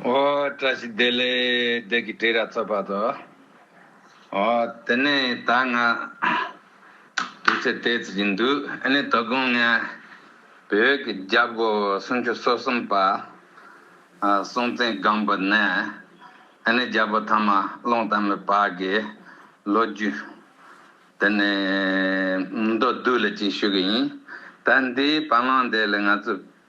བཀྲ་ཤིས་བདེ་ལེགས་བདེ་སྐྱིད་བྲིས་ར་ཚོད་པ་དོ། དེ་ནས་ད་ང་དུས་ཚོད་དེ་ཚོད་ཀྱི་འདུག་ཨེ་ནས་དོ་དགོང་ང་བོད་ཀྱི་རྒྱ་སྒོ་སུམ་ཅུ་སོ་གསུམ་པ་སྲོང་བཙན་སྒམ་པོ་ནས་ཨེ་ནས་རྒྱལ་པོ་ཐ་མ་ཀློང་ལྟ་མོའི་བར་གྱི་ལོ་རྒྱུས་དེ་ནས་མདོར་བསྡུས་ལ་ཅིག་ཞུ་གི་ཡིན། ད་འདིའི་བར་སྣང་འདི་ལ་ང་ཚོས།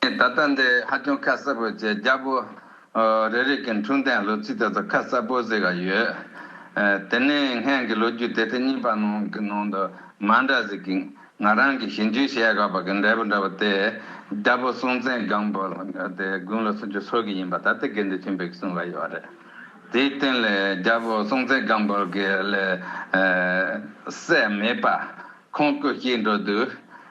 ད་ལྟ་འདི་ཧ་ཅང་ཁ་གསལ་པོ་བྱས་རྒྱ་པོ་རེ་རེ་གི་འཁྲུངས་གཏན་ལོ་ཚིགས་དེ་ཚོ་ཁ་གསལ་པོ་གཟིགས་ཀ་ཡོད། དེ་ནས་སྔན་གྱི་ལོ་རྒྱུས་དེ་ཐེངས་གཉིས་པ་ནང་གི་ནང་དུ་མ་འདྲ་ཟིག་གི་ང་རང་གི་ཞིབ་འཇུག་བྱས་དགའ་པ་གི་འབྲས་བུ་འདྲ་པོ་དེ་རྒྱ་པོ་སྲོང་བཙན་སྒམ་པོ་དེ་དགུང་ལོ་སུམ་ཅུ་སོ་གི་ཡིན་པ་ད་ལྟ་དགེ་འདུན་ཆེན་པོས་གསུངས་ལ་ཡོད་རེད། དེའི་སྟེང་ལས་རྒྱ་པོ་སྲོང་བཙན་སྒམ་པོ་གི་ལས་སད་མེད་པ་ཁོང་སྐུ་གཤེགས་འགྲོ་དུས་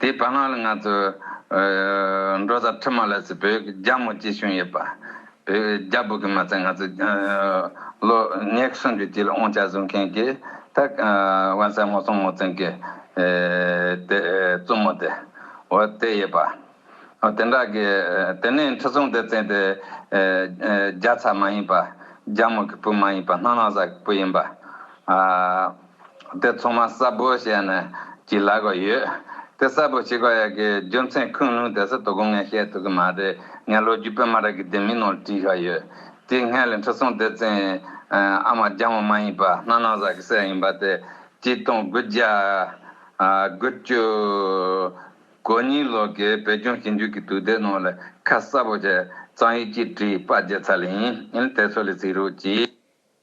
དེའི་བར་སྔ་ལ་ང་ཚོས་འབྲོ་བཟའ་ཁྲི་མ་ལ་སི་བོད་ཀྱི་རྒྱ་མོ་གཅིག་བྱུང་ཡོད་པ། བོད་རྒྱ་བོད་ཀྱི་མ་ཚད་ང་ཚོས་ལོ་ཉེར་སུམ་ཅུ་དཀྱིལ་དབང་ཆ་བཟུང་མཁན་གྱི་ད་བན་སྲས་མོ་སྲོང་མོ་བཙན་གྱི་དེ་བཙུན་མོ་དེ་འོ་དེ་ཡོད་པ། དེ་འདྲ་གི་དེ་ནས་ཁྲི་སྲོང་ལྡེ་བཙན་དེ་རྒྱ་ཚ་མ་ཡིན་པ་རྒྱ་མོ་གི་བུ་མ་ཡིན་པ་སྣ་ལག་བཟའ་གི་བུ་ཡིན་པ། དེ་ཚང་མ་གསར་བུ་བྱས་ནས་གྱིས་ལ་གོ་ཡོད། དེ་གསར་བུ་བྱེད་གོ་ཡ་གི་རྒྱུ་མཚན་ཁུངས་ལུང་དེ་ཚོ་དོ་གོ་ངས་བཤད་ཐུབ་གི་མ་རེད་ངས་ལོ་རྒྱུས་དཔེ་མ་རག་གི་དེ་མིན་ནང་བྲིས་ཤག་ཡོད། དེའི་སྔས་ལས་འཕྲུལ་སྲོང་ལྡེ་བཙན་ཨ་མ་རྒྱ་མོ་མ་ཡིན་པ་སྣ་ནག་བཟའ་གི་སྲས་ཡིན་པ་དེ་སྐྱིད་སྟོང་དགུ་བརྒྱ་དགུ་བཅུ་གོ་གཉིས་ལོ་གི་བོད་ལྗོངས་ཞིབ་འཇུག་གི་དུས་དེབ་ནང་ལས་ཁ་གསར་བུ་བྱས་གཙང་ཡུལ་སྐྱིད་གྲིའི་དཔའ་རྒྱལ་ཚ་ལེ་ཡིན་དེ་ཚོ་ལས་ཚིག་རུས་ཀྱི།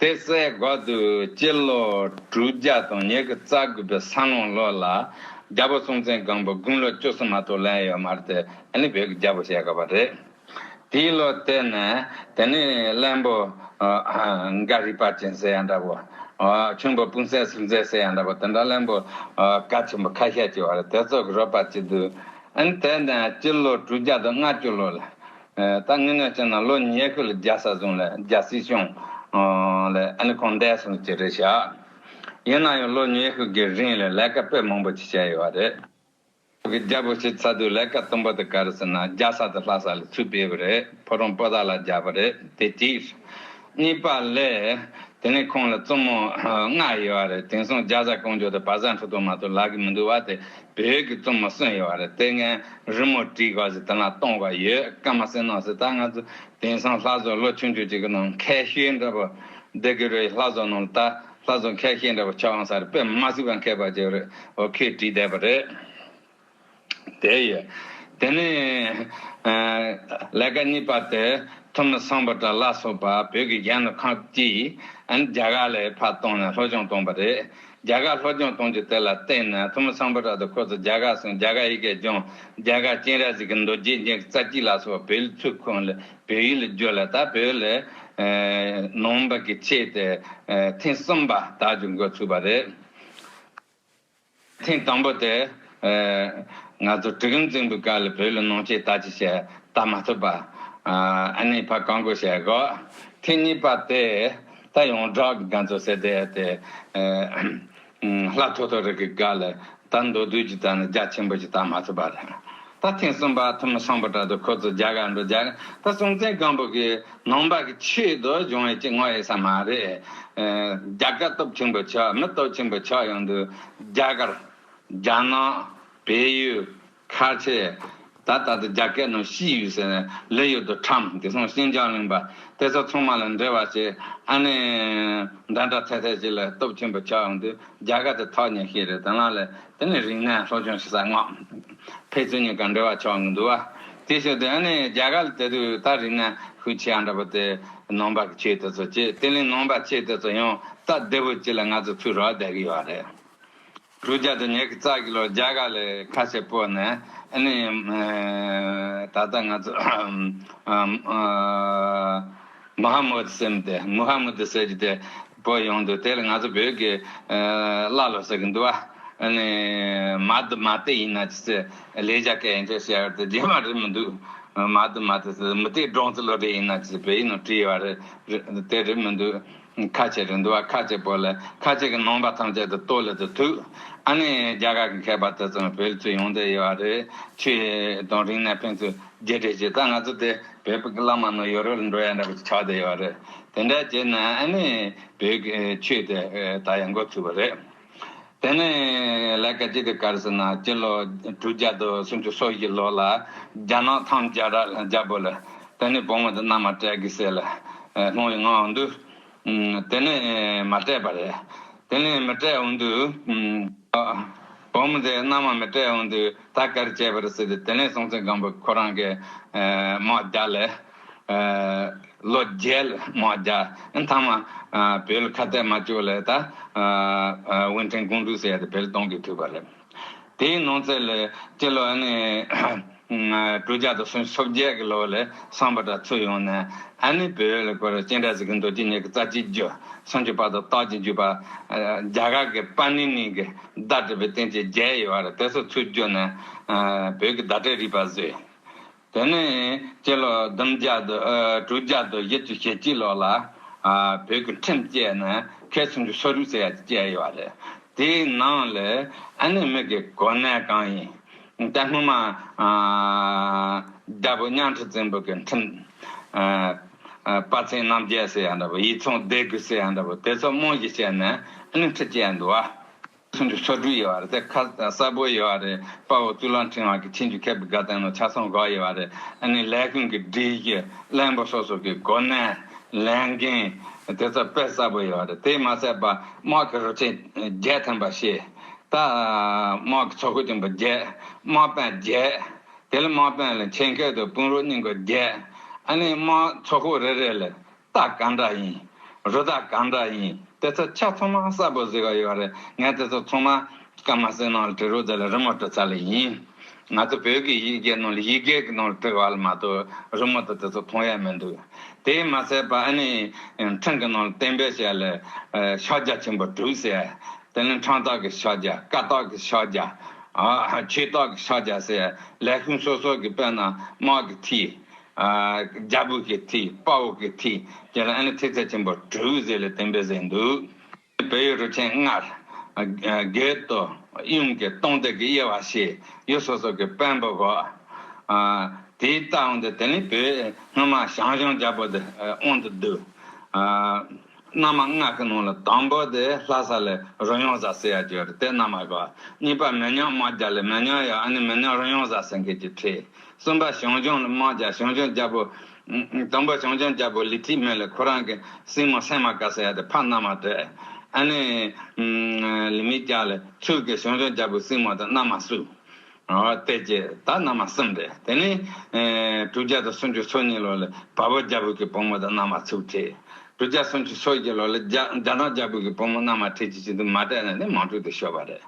དེ་སའི་འགོ་དུ་སྤྱི་ལོ་དྲུག་བརྒྱ་དང་ཉེར་དགུ་རྩ་དགུ་པའི་ས་སློང་ལོ་ལ་རྒྱལ་པོ་སྲོང་བཙན་སྒམ་པོ་དགུང་ལོ་བཅུ་གསུམ་མ་གཏོགས་ལན་ཡོད་མ་རེད་དེ་ནི་བོད་ཀྱི་རྒྱལ་པོ་བཤད་དགོས་པ་རེད། དེའི་ལོ་དེ་ནས་དེ་ནི་བློན་པོ་འགའ་རིག་པ་ཅན་ཟེར་ཡང་འདྲ་བོ། ཁྱུང་པོ་སྤུན་གསལ་སུམ་རྩེན་ཟེར་ཡང་འདྲ་བོ་དེ་འདྲ་བློན་པོ་ག་ཆེན་པོ་ཁ་ཤས་ཀྱི་བར་དེ་ཚོ་གི་རོགས་པ་བྱེད་དུས། དེ་ནས་སྤྱི་ལོ་དྲུག་བརྒྱ་དང་ལྔ་བཅུ་ལོ་ལ། ད་ངེད་ནས་བྱས་ན་ལོ་ཉེས་ཁུ་ལ་རྒྱ་བཟའ་ཟུང་ལ་རྒྱ་སྲིད་སྐྱོང། ལས་ཨ་ནི་གང་འད་སོང་ཅི་རེད་བྱ། ཡིན་ན་ཡང་ལོ་ཉེས་ཁུ་གི་རིང་ལ་ལས་ཀ་དཔེ་མང་པོ་ཅིག་བྱས་ཡོད་བ་རེད། ཁོ་གི་རྒྱ་བོད་སྤྱི་ཚ་དུས་ལས་ཀ་དུམ་བུ་དུ་ག་རེ་ཟེར་ན་རྒྱ་ས་དུ་ལྷ་ས་ལ་ཚུད་སྤེལ་བ་རེད་ཕོ་རོང་པོ་ད་ལ་རྒྱ་བོ་རེད་དེ་གཅིག། གཉིས་པ་ལས། དེ་ནས་ཁོང་ལ་བཙུན་མོ་ལྔ་ཡོད་བ་རེད་དེང་སང་རྒྱ་བཟའ་ཀོང་ཇོ་དང་བ་བཟའ་འཕྲོ་དུང་མ་གཏོགས་ལག་གི་མི་འདུག་བ་དེ་བོད་ཀྱི་བཙུན་མོ་གསུམ་ཡོད་བ་རེད་དེ་ངའི་རི་མོ་བྲིས་ག་ཟེ་དེ་ལ་གཏོང་བ་ཡོད་སྐད་མ་ཟེ་ནོ་ཟེ་ད་ང་ཚོ་དེང་སང་ལྷ་བཟོ་ལོ་ཆུང་ཆུང་ཅིག་གི་ནང་ཁལ་ཤེལ་འདྲ་པོ་སྡེ་གི་རེད་ལྷ་བཟོ་ནང་ད་ལྷ་བཟོ་ཁལ་ཤེལ་འདྲ་པོ་ཆ་བང་ས་རེད་དཔེ་མ་ཟིག་བ་མཁས་པ་ཅིག་རེད་འོ་ཁས་བྲིས་བསྡད་པ་རེད། དེ་ཡོད། དེ་ནས། ལས་ཀ་གཉིས་པ་དེ་ཐུ་མི་སངས་པ་དང་ལ་སོགས་པ་བོད་ཀྱི་རྒྱལ་ནང་ཁག་ཀྱིས་རྒྱ་གར་ལས་ཕར་བཏང་ནས་སློབ་སྦྱོང་བཏང་བ་རེད། རྒྱ་གར་སློབ་སྦྱོང་གཏོང་རྒྱུ་དེ་ལ་བརྟེན་ནས་ཐུ་མི་སངས་པ་དང་ཁོ་ཚོ་རྒྱ་གར་སོང་རྒྱ་གར་ཡི་གེ་སྦྱོང་རྒྱ་གར་སྤྱན་རས་གཟིགས་ཀྱི་མདོ་རྒྱས་འབྱིན་རྩ་གཅིག་ལ་སོགས་བོད་ཡིག་ཚུར་ཁུར་ནས་བོད་ཡིག་ལ་བསྒྱུར་ལ་ད་བོད་ལས། ནང་པ་གི་ཆེད་དེ་ཐེངས་གསུམ་པ་དག་བསྒྱུར་འགོ་ཚུགས་པ་རེད། ཐེངས་དང་པོ་དེ། ང་ཚོ་དྲུག་ཡུམ་རྫིང་བུའི་སྒར་ལ་བོད་ལ་ནང་ཆས་ལྟ་ཅི་བྱས་ལྟ་མ་ཐུབ་པ། ཨ་ནེའི་ཕ་གང་དགོས་བྱས་གོ། ཐེངས་གཉིས་པ་དེ། ད་ཡོང་བསྒྲགས་ཀྱི་འགན་ཚོ་ཟེར་བསྡད་དེ། ལྷ་ཐོ་ཐོ་རི་གི་སྒར་ལ་ད་མདོ་དུས་ཀྱི་ལྟ་ན་རྒྱ་ཆེན་པོ་ཞིག་ལྟ་མ་ཐུབ་པ་རེད། ད་ཐེངས་གསུམ་པ་ཐུ་མི་སངས་པོ་དྲག་ཏུ་ཁོ་ཚོ་རྒྱ་གར་འགྲོ་རྒྱ་གར་སྲོང་བཙན་སྒམ་པོ་གི་ནང་པ་གི་ཆེད་དུ་སྦྱོང་ཡོད་ཅེས་ངོ་ཡེ་ས་མ་རེད། རྒྱ་དཀའ་སྟོབས་ཆེན་པོ་ཆགས་མི་སྟོབས་ཆེན་པོ་ཆགས་ཡོང་དུས་རྒྱ་གར། རྒྱ་ནག། བལ་ཡུལ། ཁ་ཆེ། ད་ད་དུ་རྒྱ་སྐད་ནང་ཤི་ཡོད་ཟེར་ནས་ལས་ཡོད་དུ་ཁྲམ་དེ་སང་ཤིན་ཅང་གླིང་པ་དེ་ཚོ་ཚང་མ་ལ་འབྲེལ་བ་བྱས་ཨ་ནི་འདྲ་འདྲ་ཐད་ཐད་བྱས་ལ་སྟོབས་ཆེན་པོ་ཆགས་ཡོང་དུས་རྒྱ་གར་དེ་ཐག་ཉེ་ཤེས་རེད་དེ་ལ་ལས་དེ་ནི་རིང་ནས་སློབ་སྦྱོང་བྱེད་ས་ངོ། ཕེ་ཚུན་གཉིས་ཀ་འབྲེལ་བ་ཆོག་གི་འདུག་ཨ། དེ་ཞོར་དུ་ཨ་ནི་རྒྱ་གར་ལ་དེ་དུས་ད་རིང་ནས་ཤུགས་ཆེ་ཨ་འདྲ་པོ་དེ་ནང་པ་གི་ཆོས་དེ་ཚོ་བྱེད་དེ་ལས་ནང་པ་ཆེ་དེ་ཚོ་ཡང་ད་བདེ་པོ་བྱེད་ལ་ང་ཚོ་ཚུར་རོགས་བསྡད་གི་ཡོད་རེད། གྲུ་རྒྱ་དེ་ཉེ་གི་རྩ་གི་ལོ་རྒྱ་གར་ལས་ཁ་ཤས་སྤོས་ནས་ཨ་ནི་ད་ལྟ་ང་ཚོ་མུ་ཧ་མུ་ཧད་སེམས་དེ་མུ་ཧ་མུ་དི་ཟེར་གྱི་དེ་བོད་ཡོངས་འདུ་དེ་ལ་ང་ཚོ་བོད་ཀྱི་བླ་སློབ་ཟེར་གྱི་འདུག་བ། ནི། མ་འདི་མ་དེ་ཡིན་ན་ཅི་ཟེར། ལས་བྱ་སྐལ་ཡིན་ཆོས་བྱ་བར་དེ་རྗེས་མ་རེད་མི་འདུག། མ་འདི་མ་དེ་ཟེར་མི་དེ་འབྲོང་རྩི་བློ་གྲོས་ཡིན་ན་ཅི་ཟེར་བོད་ཡིག་ནང་བྲིས་ཡོད་རེད། དེ་རེད་མི་འདུག། ཁ་ཆེ་རེད་འདུག་བ་ཁ་ཆེ་པོ་ལ་ཁ་ཆེ་གི་ནང་པ་ཐམས་ཅད་དུ་ལྟོས་ལ་དུ་ཐུག། ཨ་ནི་རྒྱ་གར་གི་མཁས་པ་དེ་ཚོ་ནི་བོད་ལ་ཚུར་ཡོང་བསྡད་ཡོད་བ་རེད། ཆོས་དང་རིང་ནས་ཕན་ཚུན་རྒྱས་སྤྲོས་བྱས་ད་ང་ཚོ་དེ། བོད་ཕག་གི་གླང་མ་ནི་ཡོ་རོབ་ལ་འགྲོ་ཡ་འདྲ་བ་ཆགས་བསྡད་ཡོད་རེད། དེ་འདྲ་བྱས་ན་ཨ་ནི་བོད་ཀྱི་ཆོས་དེ་ད་ཡང་འགོ་ཚུགས་པ་རེད། དེ་ནི་ལས་ཀ་ཅི་ལྟར་དཀར་ཟེར་ན་སྤྱི་ལོ་དྲུག་བརྒྱ་དང་སུམ་ཅུ་སོ་བཞི་ལོ་ལ་རྒྱ་ནག་ཐང་རྒྱ་བོད་ལ་དེ་ནི་བུ་མོ་དེ་མནའ་མ་སྤྲད་གི་ཟེར་ལ་ལྷུང་བའི་ངང་འདུག། དེ་ནས་མ་སྤྲད་པ་རེད། དེ་ནས་མི་སྤྲད་འོང་དུསགོམ་དེ་རྣམས་མ་སྤྲད་འོང་དུས་ད་གར་བྱས་པར་སྲིད་དེ་ནས་སྲོང་བཙན་སྒམ་པོས་ཁོ་རང་གི་དམག་རྒྱ་ལསལོ་རྒྱལ་དམག་རྒྱ་མཐའ་མ་བོད་ཁ་གཏད་མ་བཅུག་ལས་ད་དབོན་ཕྲེང་སྐོང་འབྲུག་སྲས་དེ་བོད་གཏོང་གི་ཐུབ་པ་རེད། དེའི་ནང་ཚེ་ལས་སྐྱེས་ལོ་ཨ་ནི། དྲུག་བརྒྱ་དང་སུམ་ཅུ་སོ་བརྒྱད་ཀྱི་ལོ་ལས་བསམ་པ་འདྲ་ཚུར་ཡོང་ནས་ཨ་ནི་བོད་ལ་སྐུ་རུ་སྤྱན་དྲངས་གཟིགས་མདོ་རྒྱུད་གཉིས་ཀྱི་རྩ་གཅིག་རྒྱུ་སུམ་ཅུ་པ་དང་རྟགས་ཀྱི་བརྒྱུད་པ། རྒྱ་གར་གྱི་པཱ་ནི་ནི་གྱི་བརྡ་སྤྲོད་པའི་རྟེན་གྱི་བརྒྱད་ཡོད་པ་རེད་དེ་ཚོ་ཚུར་བསྒྱུར་ནས་བོད་ཀྱི་བརྡ་སྤྲོད་རིག་པ་བཟོས། དེ་ནས་སྤྱི་ལོ་བདུན་བརྒྱ་དང་དྲུག་བརྒྱ་དང་བཞི་བཅུ་ཞེ་གཅིག་ལོར་ལ་བོད་ཀྱི་ཁྲིམས་བཅས་ནས་མཁས་གསུམ་གྱི་སོ་རུས་ཟེར་ཡག་ཅིག་བཅས་ཡོད་པ་རེད། དེའི་ནང་ལས་ཨ་ནེ་མིག་གི་གོ་གནས་གང་ཡིན། ད་སྔོན་མ། རྒྱལ་པོ་གཉའ་ཁྲི་བཙན་པོ་གྱི་ཁྲིམས། དཔའ་ཚན་རྣམ་རྒྱལ་ཟེར་ཡག་འདྲ་པོ་ཡིག་ཚང་སྡེ་དགུ་ཟེར་ཡག་འདྲ་པོ་དེ་ཚོ་རྨང་གཞི་བྱས་ནས་ཨ་ནེ་ཁྲི་བཅས་འདུག་བ། ཁྲིན་ཏུའུ་ཆོས་དྲུག་ཡོད་བ་རེད་དེ་ཁ་གསལ་པོ་ཡོད་བ་རེད་དཔའ་བོ་ཙུའུ་ལང་ཁྲིན་ཝང་གིས་ཁྲིན་ཏུའུ་ཁེ་པི་ག་དང་ནོ་ཆ་སོང་གོ་ཡོད་བ་རེད་ཨ་ནི་ལས་ཁུངས་ཀྱི་སྒྲིག་གཞི་གླེང་པོ་སོ་སོ་གི་སྒོ་ནས་ལས་འགན་དེ་ཚོ་དཔེ་གསལ་པོ་ཡོད་བ་རེད་དེ་མ་ཟད་པ་དམག་གི་རུ་ཆེན་བརྒྱད་ཐོན་པ་ཞེས་ད་དམག་གི་ཚོགས་སྐུ་ཆེན་པོ་བརྒྱད་དམག་དཔོན་བརྒྱད་དེ་ལ་དམག་དཔོན་ལ་མཆན་ཁེལ་དུ་དཔུང་རུ་སྙིང་པོ་བརྒྱད་ཨ་ནི་དམག་ཚོགས་སྐུ་རེ་རེ་ལ་རྟགས་གང་འདྲ་ཡིན། རུ་རྟགས་གང་འདྲ་ཡིན། དེ་ཚོ་ཆ་ཚང་མ་གསལ་པོ་གཟིགས་ཀ་ཡོད་རེད། ངས་དེ་ཚོ་ཚང་མ་སྐད་མ་གསལ་ནང་ལ་བྲིས་རོགས་དེ་ལ་རི་མོ་བྲི་ཚར་ལེ་ཡིན། ང་ཚོ་བོད་ཀྱི་ཡིག་གེ་ནང་ལ་ཡིག་གེ་གི་ནང་ལ་བྲིས་བ་ལ་མ་གཏོགས་རི་མོ་དང་དེ་ཚོ་མཐོང་ཡ་མི་འདུག། དེ་མ་ཟད་པ་ཨ་ནི་ཕྲེང་གི་ནང་ལ་གཏན་འབེབས་བྱས་ལ། ཕྱག་རྒྱ་ཆེན་པོ་དྲུག་ཟེར། དེ་ནི་འཕྲང་རྟགས་ཀྱི་ཕྱག་རྒྱ་བཀའ་རྟགས་ཀྱི་ཕྱག་རྒྱ། ཆོས་རྟགས་ཀྱི་ཕྱག་རྒྱ་ཟེར། ལས་ཁུངས་སོ་སོ་གི་དཔོན་རྣམས་དམག་གི་མཐིལ། རྒྱལ་པོ་ཀི་ཐི་དཔའ་བོ་ཀི་ཐི་བཅས་ལ་ཨེ་ལི་ཐི་ཚལ་ཆེན་པོ་དྲུག་བཟས་ལས་བསྟན་པའི་ཟས་འདུག་ཅེས་བོད་ཡུལ་རུ་ཆེན་ལྔར། རྒྱལ་དུ། གཡུང་གི་སྟོང་སྡེ་དགེ་དབྱེ་བ་ཞེས་ཡུལ་སོ་སོ་གི་དཔོན་པོ་བགོ། དེའི་རྟགས་འོང་དུ་དེ་ནི་བོད་སྔོན་མ་ཞང་ཞུང་རྒྱལ་པོ་དེ་འོང་དུ་བསྡུ། སྔ་མ་སྔགས་ཀྱི་ནང་ལ་དང་པོ་དེ་ལྷ་ས་ལས་རོལ་དབྱངས་བཟའ་ཟེར་ཡ་གྱོད་དེ་རྣམས་ཨེ་བ། གཉིས་པ་མེ་ཉག་དམག་རྒྱ་ལས་མེ་ཉག་ཡ་ཨ་ནི་མེ་ཉག་རོལ་དབྱངས་བཟའ་ཟེར་མཁན་གྱི་ཁྲིད། གསུམ་པ་ཞང་ལྗོངས་དམག་རྒྱ་ཞང་ལྗོངས་རྒྱལ་པོ། དང་པོ་ཞང་ལྗོངས་རྒྱལ་པོ་ལི་ཁྲིའི་མེ་ལས་ཁོ་རང་གི་སྲིང་མོ་སེང་མ་ཀ་ཟེར་ཡ་དེ་ཕ་མནའ་མ་བྲལ། ཨ་ནི། ལི་མི་རྒྱ་ལས་ཆུ་ཀའི་ཞང་ལྗོངས་རྒྱལ་པོའི་སྲིང་མོ་དེ་མནའ་མ་བསུ། བལྟས་ཀྱི་ད་རྣམས་མ་གསུམ་སྟེ་དེ་ནས། དྲུག་བརྒྱ་དང་སུམ་ཅུ་སོ་གཉིས་ལོ་ལ་བལ་པོ་རྒྱ་བོད་ཀྱི་བུ་མོ་དང་མནའ་མ་ཚུགས། དྲུག་བརྒྱ་སུམ་ཅུ་སོ་བཞི་ལོ་ལ་རྒྱ་ནག་རྒྱ་བོད་ཀྱི་བུ་མོ་མནའ་མ་ཁྲི་ཆིག་ཅིག་དུ་མ་བསྐྲད་ནས་ནི་མང་དྲུག་ཏུ་བཤོལ་བ་རེད།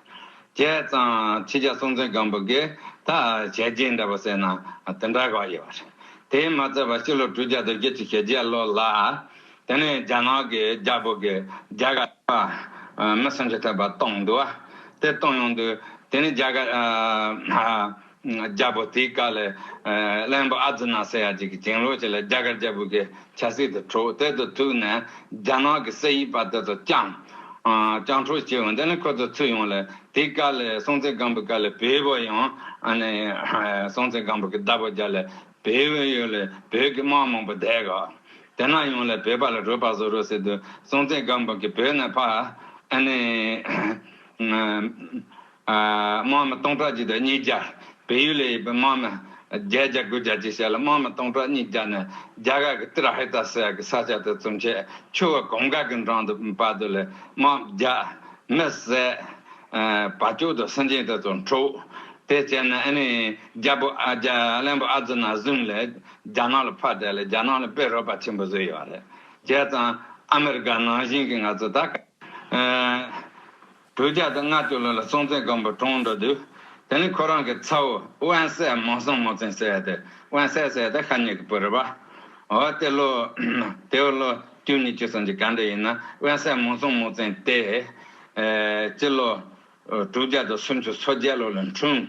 བྱས་ཙང་ཕྱི་རྒྱལ་སྲོང་བཙན་སྒམ་པོ་དགེ་ད་བྱས་རྗེས་འདྲ་པོ་སྲེད་ན་དེ་འདྲ་ག་ཡོད། དེས་མ་ཚད་པར་སྤྱི་ལོ་དྲུག་བརྒྱ་དང་བརྒྱད་ཅུ་ཞེ་བརྒྱད་ལོ་ལ། དེ་ནས་རྒྱ་ནག་གི་རྒྱ་བོད་ཀྱི་རྒྱ་གར་བ། མི་སུམ་ཅུ་ཐེབས་པ་གཏོང་འདུག་བ། དེ་གཏོང་ཡོང་དུས་དེ་ནས་རྒྱ་གར། རྒྱ་བོད་དེའི་བཀའ་ལས། གླེན་པོ་ཨ་ཛི་ནཱ་སེ་ཡ་གཅིག་གི་བྱིངས་ལོག་ཅིག་ལ་རྒྱ་གར་རྒྱ་བོད་ཀྱི་ཆབ་སྲིད་དུ་འཁྲུགས་དེ་དུ་ཐུག་ནས་རྒྱ་ནག་གི་སྲིད་ཡིག་པ་དེ་ཚོ་བསྐྱངས། བསྐྱངས་འཁྲུགས་བྱས་ཡོང་དེ་ནས་ཁོ་ཚོ་ཚུད་ཡོང་ལ་དེའི་བཀའ་ལས་སྲོང་བཙན་སྒམ་པོའི་བཀའ་ལས་བོད་བོད་ཡང། སྲོང་བཙན་སྒམ་པོ་གི་བདག་པོ་རྒྱ་ལས་བོད་བོད་ཡོད་ལ་བོད་ཀྱི་དམག་མང་པོ་བསྡད་ག། དེ་ནག་ཡོང་ལ་བོད་པ་ལ་རོས་པ་བཟོ་རོགས་ཟེར་དུས་སྲོང་བཙན་སྒམ་པོ་གི་བོད་ནས་ཕག་ཨ་ནི་དམག་མི་སྟོང་ཕྲག་གཅིག་དང་གཉིས་བརྒྱ་བལ་ཡུལ་ལ་ཡོད་པའི་དམག་མི་བརྒྱད་བརྒྱ་དགུ་བརྒྱ་བཅས་བྱས་ལ་དམག་མི་སྟོང་ཕྲག་གཉིས་བརྒྱ་ནི་རྒྱ་གར་གི་ཏིར་ཧེ་ཏ་སེ་ཡ་གི་ས་ཆ་དེ་ཚོ་མཆེད་ཆུ་བོ་གོམ་ཁ་གི་འགྲམ་དུ་བབས་དུས་ལས་དམག་བརྒྱ་མི་བསད། བ་ཅོག་དང་སེང་ཆེན་དེ་ཚོ་འཁྲུགས། དེ་བྱས་ན་ཨ་ནི་རྒྱལ་པོ་ཨ་རྒྱལ་གླེན་པོ་ཨ་ཛི་ན་བཟུང་ལས། རྒྱ་ནག་ལ་ཕར་བལྟས་ལ་རྒྱ་ནག་ནི་དཔེ་རོལ་པ་ཆེན་པོ་བཟོས་ཡོད་རེད་བྱས་ཙང་ཨ་མི་རི་ཀ་ནང་བཞིན་གྱི་ང་ཚོ་ད་ག་དྲུག་བརྒྱ་དང་ལྔ་བཅུ་ལོ་ལ་སྲོང་བཙན་སྒམ་པོ་གྲོངས་འགྲོ་དུས་དེ་ནི་ཁོ་རང་གི་ཚ་བོ་དབོན་སྲས་མང་སྲོང་མོ་བཙན་སྲས་དེ་དབོན་སྲས་སྲས་དེ་ཤ་ཉེ་གི་བུ་རེད་པ་འོ་དེ་ལོ་དེའུ་ལོ་བཅུ་གཉིས་བཅུ་གསུམ་ཅི་ག་འདྲ་ཡིན་ན་དབོན་སྲས་མང་སྲོང་མོ་བཙན་དེ་སྤྱི་ལོ་དྲུག་བརྒྱ་དང་སུམ་ཅུ་སོ་བརྒྱད་ལོ་ལ་འཁྲུངས།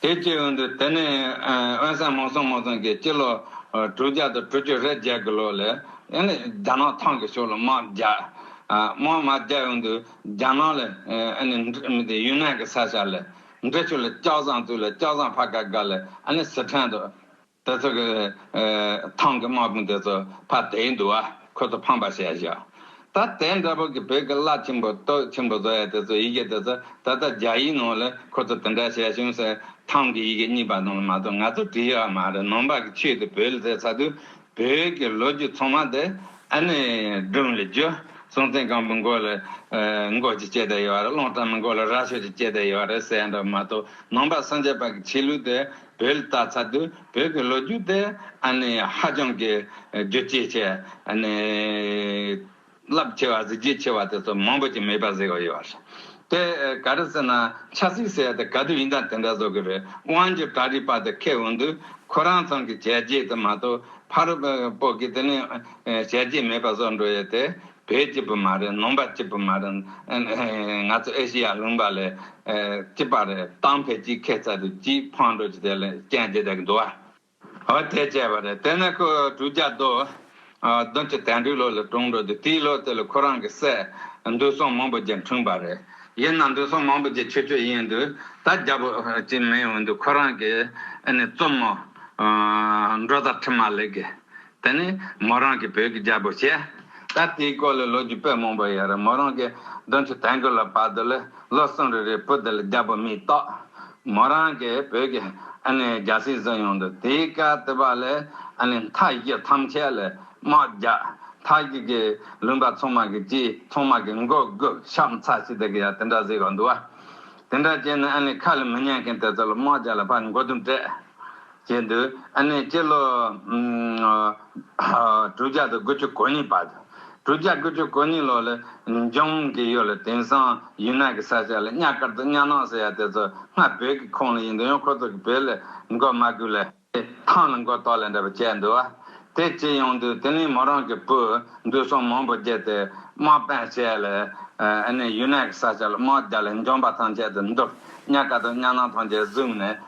དེའི་སྤྱི་དབང་དུ་དེ་ནི་དབེན་སངས་མོང་སོང་མོང་སོང་གི་སྤྱི་ལོ་དྲུག་བརྒྱ་དང་དྲུག་ཅུ་རེ་བརྒྱད་ཀྱི་ལོ་ལས་ཡང་ནི་རྒྱ་ནག་ཐང་གི་ཕྱོགས་ལ་དམག་རྒྱག། དམག་མ་རྒྱག་དབང་དུ་རྒྱ་ནག་ལ་ཡང་ནི་མི་དེ་ཡུན་ནན་གྱི་ས་ཤར་ལས་འབྲས་ཆུ་ལ་སྐྱག་ཟངས་བཙུགས་ལ་སྐྱག་ཟངས་ཕ་ག་ག་ལས་ཡང་ནི་སི་ཁྲན་དུ། དེ་ཚོ་གི། ཐང་གི་དམག་དཔུང་དེ་ཚོ་ཕ་དེའི་འདུ་བ་ཁོ་ཚོ་ཕངས་པ་བྱས་བཞག། ད་དེ་འདྲ་པོ་གི་བོད་གི་བླ་ཆེན་པོ་སྟོད་ཆེན་པོ་བཟོ་ཡ་དེ་ཚོ་ཡི་གེ་དེ་ཚོ་ད་ལྟ་རྒྱ་ཡིག་ནང་ལ་ཁོ་ཚོ་དེ་འདྲ་བྱས་བྱུང་ཟེར་ཐང་གི་ཡི་གེ་གཉིས་པ་ནང་ལ་མ་གཏོགས་ང་ཚོ་བྲིས་ཡོད་མ་རེད་ནང་པ་གི་ཆོས་དེ་བོད་ལ་ཟེར་ཚ་དུས་བོད་གི་ལོ་རྒྱུས་ཚང་མ་དེ་ཨ་ནི་སྒྲུང་ལ་བརྒྱུ། སྲོང་བཙན་སྒམ་པོའི་མགོ་ལ་མགོ་ཅིག་བཅད་དེ་ཡོད་རེད་གླང་སྤྲང་པོའི་མགོ་ལ་རྭ་ཞོ་ཅིག་བཅད་དེ་ཡོད་རེད་ཟེར་ཡ་འདྲ་པོ་མ་གཏོགས་ནང་པ་སངས་རྒྱས་པ་གི་ཆོས་ལུགས་དེ། བོད་ལ་བལྟ་ཚར་དུས་བོད་ཀྱི་ལོ་རྒྱུས་དེ་ཧ་ཅང་གི་རྒྱུ་ཆེ་ཆེ། རླབས་ཆེ་བ་གཟི་བརྗིད་ཆེ་བ་དེ་ཚོ་མང་པོ་ཅིག་མེད་པ་བཟོས་ཡོད་པ་རེད། དེ་ག་རེ་ཟེར་ན་ཆབ་སྲིད་ཟེར་ཡ་དེ་ག་དུས་ཡིན་དང་དེ་འདྲ་བཟོ་གི་རེད་དབང་ཆོས་གྲྭ་རིག་པ་དེ་མཁས་འོང་དུས་ཁོ་རང་ཚང་གི་བྱས་རྗེས་དེ་མ་གཏོགས་ཕ་རོལ་པོ་ཀྱི་དེ་ནས་བྱས་རྗེས་མེད་པ་བཟོ་འགྲོ་ཡོད་དེ་བོད་སྐྱིད་པོ་མ་རེད་ནོམ་པ་སྐྱིད་པོ་མ་རེད། ང་ཚོ་ཨེ་ཤི་ཡ་ལུང་པ་ལས་སྐྱིད་པ་རེད་ཏང་ཕལ་སྐྱིད་ཁེ་ཚ་རེད་སྐྱིད་ཕང་འགྲོ་སྐྱིད་དེ་ལས་རྐྱེན་སྐྱིད་དེ་གི་འདུ་བ། ཨོ་དེ་བྱས་པ་རེད་དེ་ནས་ཁོ་གྲུ་རྒྱ་རྡོ་རྡོ་མཆོད་དན་དྲུག་ལོ་ལ་གྲོངས་འགྲོ་དུས་དེའི་ལོ་དེ་ལ་ཁོ་རང་གི་སྲས་འདུས་སྲོང་མང་པོ་རྗེ་འཁྲུངས་པ་རེད། ཡིན་ན་འདུས་སྲོང་མང་པོ་རྗེ་ཆོས་སྤྱོད་ཡིན་དུས་ད་རྒྱ་པོ་ཅིག་མིན་འོན་དུས་ཁོ་རང་གི་ཨ་ནེ་བཙུན་མོ་འགྲོ་ཟླ་ཁྲི་མ་ལེགས་ཀྱི་དེ་ནི་མོ་རང་གི་བོད་ཀྱི་རྒྱལ་པོ་བྱས། ད་དེའི་སྐོར་ལ་ལོ་རྒྱུས་དཔེ་མང་པོ་ཡོད་རེད་མོ་རང་གི་གདོན་ཆུ་དལ་འགོས་ལ་བར་དུ་ལས་ལོ་གསུམ་རེ་རེའི་བུ་དེ་ལ་རྒྱལ་པོ་མི་གཏོགས། མོ་རང་གི་བོད་ཀྱི་ཨ་ནེ་རྒྱལ་སྲིད་བཟུང་ཡོང་དུས་དེའི་སྐལ་ལྟེ་བ་ལས་ཨ་ནེ་མཐའ་བཞི་ཐམས་ཅད་ལས་དམག་རྒྱག་མཐའ་བཞི་གི་ལུང་པ་ཚོང་དམག་གི་སྤྱིའི་ཚོང་དམག་གི་མགོ་དགུ་ཤམ་ཚ་ཞེས་དེ་གི་ཡང་དེ་འདྲ་གཟིགས་རོགས་འདུག་བ། དེ་འདྲ་བྱས་ནས་ཨ་ནེ་ཁ་ལ་མི་ཉན་མཁན་དེ་ཚོ་ལ་དམག་རྒྱག་ལ་བར་མགོ་དུམ་སྤྲད། ཅེས་འདུད། ཨ་ནེ་སྤྱི་ལོ། དྲུག་བརྒྱ་དང་དགུ་བཅུ་གོ་གཉིས་པ། དྲུག་བརྒྱ་དགུ་བཅུ་གོ་གཉིས་ལོ་ལ་འབྱུང་གི་ཡོད་ལ་དེང་སང་ཡུན་ནན་གྱི་ས་ཆ་ལ་གཉའ་དཀར་དང་གཉའ་ནང་ཟེར་ཡ་དེ་ཚོ་སྔར་བོད་ཀྱི་ཁོངས་ལ་ཡིན་འདུག་ཡང་ཁོ་ཚོ་གི་བོད་ལ་མགོ་མ་སྒུར་ལ། ཐང་ལ་མགོ་ཏོག་ལ་འདྲ་བ་བྱས་འདུག་དེ་ཅི་ཡོང་འདུག་དེ་ནི་མོ་རང་གི་བུ་འདུས་སྲོང་མང་པོ་བརྒྱད་དེ་དམག་དཔོན་བྱས་ལ་ཨ་ནེ་ཡུན་ནན་གྱི་ས་ཆ་ལ་དམག་རྒྱག་ལ་འབྱུང་པ་ཐམས་ཅད་དུ་འདུག་གཉའ་དཀར་དང་གཉའ་ནང་ཐམས་ཅད་བཟུང་ནས་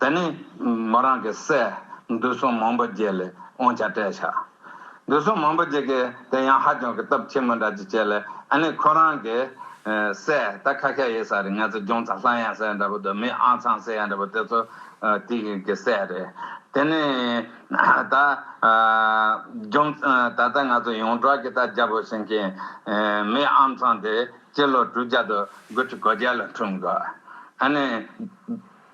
དེ་ནས་མོ་རང་གི་སྲས་འདུས་སྲོང་མང་པོ་བརྒྱད་ལས་དབང་ཆ་སྤྲད། ཕྱག་འདུས་སྲོང་མང་པོ་བརྒྱད་ཀྱིས་དེ་ཡང་ཧ་ཅང་གི་སྟོབས་ཆེན་པོ་འདྲ་ཅིག་བྱས་ལ་དེ་ནས་ཁོ་རང་གི་སྲས་ད་ཁ་ཁ་ཡི་ས་རེད་ངས་ཚོ་ལྗོངས་ཚ་ལྷ་ཡང་ཟེར་འདྲ་པོ་འདུག་མི་ཨང་ཚང་ཟེར་ཡང་འདྲ་པོ་དེ་ཚོ་དེ་གི་སྲས་རེད། དེ་ནས་ད་ལྗོངས་ད་ལྟ་ང་ཚོ་ཡོངས་གྲགས་ཀྱི་ད་རྒྱ་བོད་ཟེར་མཁན་མི་ཨང་ཚང་དེ་སྤྱི་ལོ་དྲུག་བརྒྱ་དུ་དགུ་ཁྲི་གོ་བརྒྱད་ལ་འཁྲུངས་འདུག་ཨ་ནི།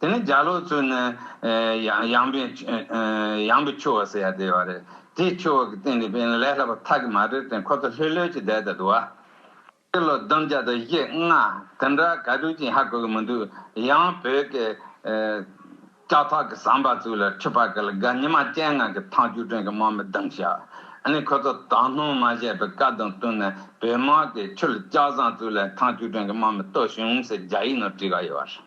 དེ་ནི་རྒྱ་ལོ་ཚོས་ནི་ཡངས་པའི་ཡངས་པའི་ཆུ་བོ་ཟེར་ཡ་དེ་བ་རེད། དེའི་ཆུ་བོ་གི་སྟེང་ནས་དཔེ་ལས་སླ་བ་ཐག་གི་མ་རེད་དེ་ཁོ་ཚོ་ལྷོད་ལྷོད་ཀྱིས་བསྡད་ད་འདུག་ཨ། སྤྱི་ལོ་བདུན་བརྒྱ་དང་བཞི་ལྔ་དེ་འདྲ་ག་དུས་ཀྱིས་ཧ་གོ་གི་མི་འདུག་ཡང་བོད་ཀྱི་ལྕགས་ཐག་གི་ཟམ་པ་ཚུལ་ལ་ཁྲི་པ་ཀ་ལ་དགའ་ཉི་མ་སྤྱན་སྔ་གི་ཐང་ཆུ་དྲོན་གྱི་དམག་མི་གདངས་ཤག་ཨ་ནི་ཁོ་ཚོ་དང་ལྷུང་མ་བཞད་པའི་བཀའ་དང་བསྟུན་ནས་བོད་དམག་གི་ཆུ་ལ་ལྕགས་ཟམ་ཚུལ་ལ་ཐང་ཆུ་དྲོན་གྱི་དམག་མི་གཏོད་བྱུང་ཟེར་རྒྱ་ཡིག་ནང་བྲིས་ག་ཡོད་བ་རེད།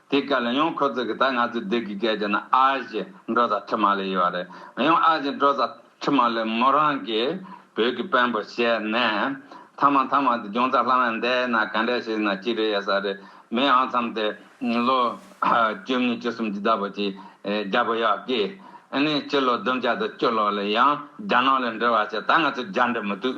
དེའི་སྐད་ལ་ཡང་ཁོ་ཚོས་གི་ད་ང་ཚོའི་སྡེ་གི་སྐད་ཀྱི་ནི་ཨ་ཞེས་འགྲོ་ས་ཁྲི་མ་ལས་ཡོད་རེད། ཡང་ཨ་ཞེས་འགྲོ་ས་ཁྲི་མ་ལས་མོ་རང་གིས་བོད་ཀྱི་དཔོན་པོ་བྱས་ནས། ཐ་མ་ཐ་མ་དེ་རྒྱང་ཚ་ལྷ་མ་འདས་ན་ག་འདྲས་ཞིག་ན་ཅི་རེད་ཡ་ས་རེད་མི་ཨང་འཚམ་དེ་ལོ་བཅུ་གཉིས་བཅུ་གསུམ་གྱི་ཟླ་བོ་གྱི་རྒྱ་བོ་ཡག་གི་ནི་སྤྱི་ལོ་བདུན་བརྒྱ་དང་བཅུ་ལོ་ལ་ཡང་རྒྱ་ནག་ལ་འབྲེལ་བ་བྱས་ད་ང་ཚོའི་རྒྱ་འབྲེལ་མི་འདུག་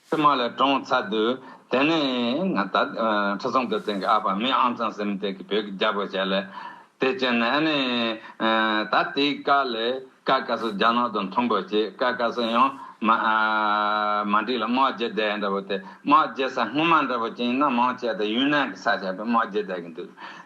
ཚེ་མ་ལ་གྲོངས་ཚར་དུས་དེ་ནས་ང་ད་ཁྲི་སྲོང་ལྡེ་བཙན་གྱི་ཨ་ཕ་མི་ཨང་ཚང་སེམས་སྡེ་གྱི་བོད་ཀྱི་རྒྱ་བོད་བྱས་ལས་དེ་བྱས་ནས་ཨ་ནི་ད་དེའི་བཀའ་ལས་ཀ་ཀ་སོ་རྒྱ་ནག་དང་མཐུན་པོ་བྱས་ཀ་ཀ་སོ་ཡང་མ་འགྲིག་ལ་དམག་རྒྱལ་སྡེ་འདྲ་བོ་དེ་དམག་རྒྱལ་ས་སྔོན་མ་འདྲ་བོ་ཅན་ཡིན་ན་མང་ཆེ་བ་དེ་ཡུན་ནན་གྱི་ས་ཆ་བས་དམག་རྒྱལ་སྡེ་གི་འདུག།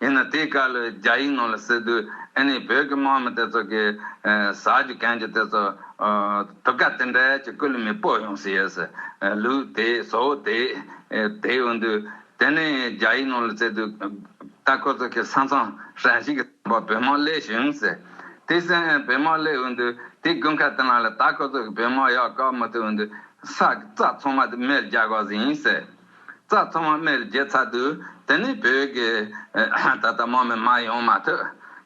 ཡིན་ན་དེའི་སྐལ་ལོས་རྒྱ་ཡིག་ནང་ལ་སྲིད་དུས་ཨེ་ནས་བོད་ཀྱི་དམག་མི་དེ་ཚོ་གི་ཟ་རྒྱུ་གན་རྒྱུ་དེ་ཚོ་དུ་ཀ་དེ་འདྲ་ཀྱི་སྐུ་ལུས་མི་སྤོ་ཡོང་སྲིད་ཡོད་སྲིད་ལུགས་དེ་བཟོ་བོ་དེ་དེ་ཡོང་དུས་དེ་ནས་རྒྱ་ཡིག་ནང་ལ་སྩལ་དུས་ད་ཁོ་ཚོ་གི་ས་མཚང་ཧྲན་ཞིག་བོད་དམག་སླེ་ཞུ་ཡོང་སྲིད་དེ་སྲིད་ཨེ་བོད་དམག་སླེ་ཡོང་དུས་དེ་དགུན་ཁ་དེ་ལ་ལ་ད་ཁོ་ཚོ་གི་བོད་དམག་ཡག་བཀག་མ་ཐུབ་ཡོང་དུས་ས་རྩ་ཚང་མ་དེ་མེར་རྒྱག་དགོས་ཟིན་ཡིན་སྲིད། རྩ་ཚང་བ་མེར་བརྒྱད་ཚ་དུས་དེ་ནི་བོད་ཀྱི་ད་ལྟ་མོ་མི་མ་ཡོང་མ་ཐུག་